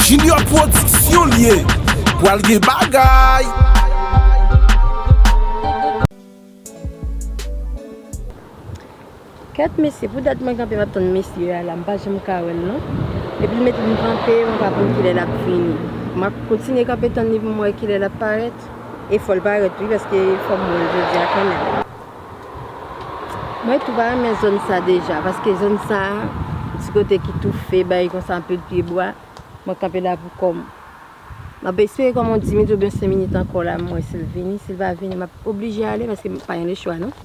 Junior production li ye pwal gen bagay. Kèt mesye pou dat mwen kanpe map tann mesye a la m pa janm ka wèl non epi l mete m kanpe mwen pa konn kilè lap vini map kontinye kanpe tann li pou m wè kilè lap parèt e fòl parèt wi paske fòm wèl jodia kanmèm. Mwen tou pa renmen zòn sa deja, paske zòn sa, ti kote ki toufe, bay konsa anpil pye bwa, mwen kanpe la pou kò m. M ap espere kò m yon diminit oubyen yon senminit ankò la m wè si l vini, si l pa vini m ap oblije ale paske m pa gen lechwa non.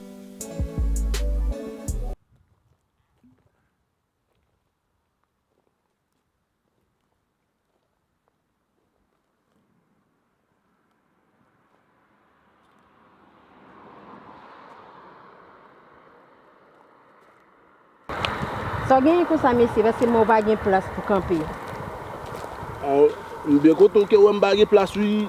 Sa genyen konsa mesye paske m wè w pa gen plas pou kanpe. Aw, m byen kontan w ke wè m pa gen plas wi.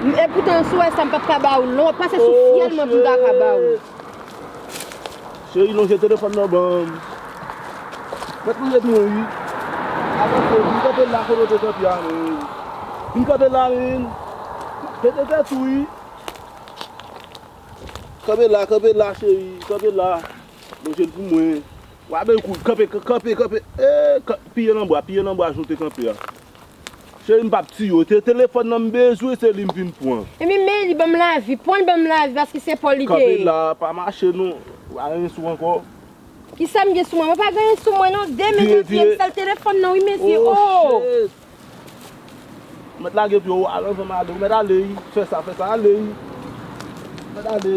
M e poutan m sou wè sa m pap ka ba ou lon pase sou fyèl mwen pou m ta ka ba ou. Cheri lonje telefòn nan ban m. Mèt lonje tou wi. Avanse vin kanpe la kote w te kanpe a menm. Vin kanpe la menm. Pete tèt ou wi. Kanpe la kanpe la cheri kanpe la. Lonje l pou mwen. Wa bay kou kanpe kanpe kanpe. Piye nan bwa piye nan bwa jan w te kanpe a. Cheri m pap tiye w se telefòn nan m bezwen se li m vin pran. Ebyen men li banm lavi. Pwan l banm lavi paske se paw li te ye. Kanpe la pa mache non ou pa gen anyen sou ankò. Kisa m gen sou mwen mwen pa gen anyen sou mwen non de mezyon tiye m sèl telefòn nan wi mesye ooh. Ou mèt lage pye w avan m ale ou mèt ale wi fè sa fè sa ale wi ou mèt ale.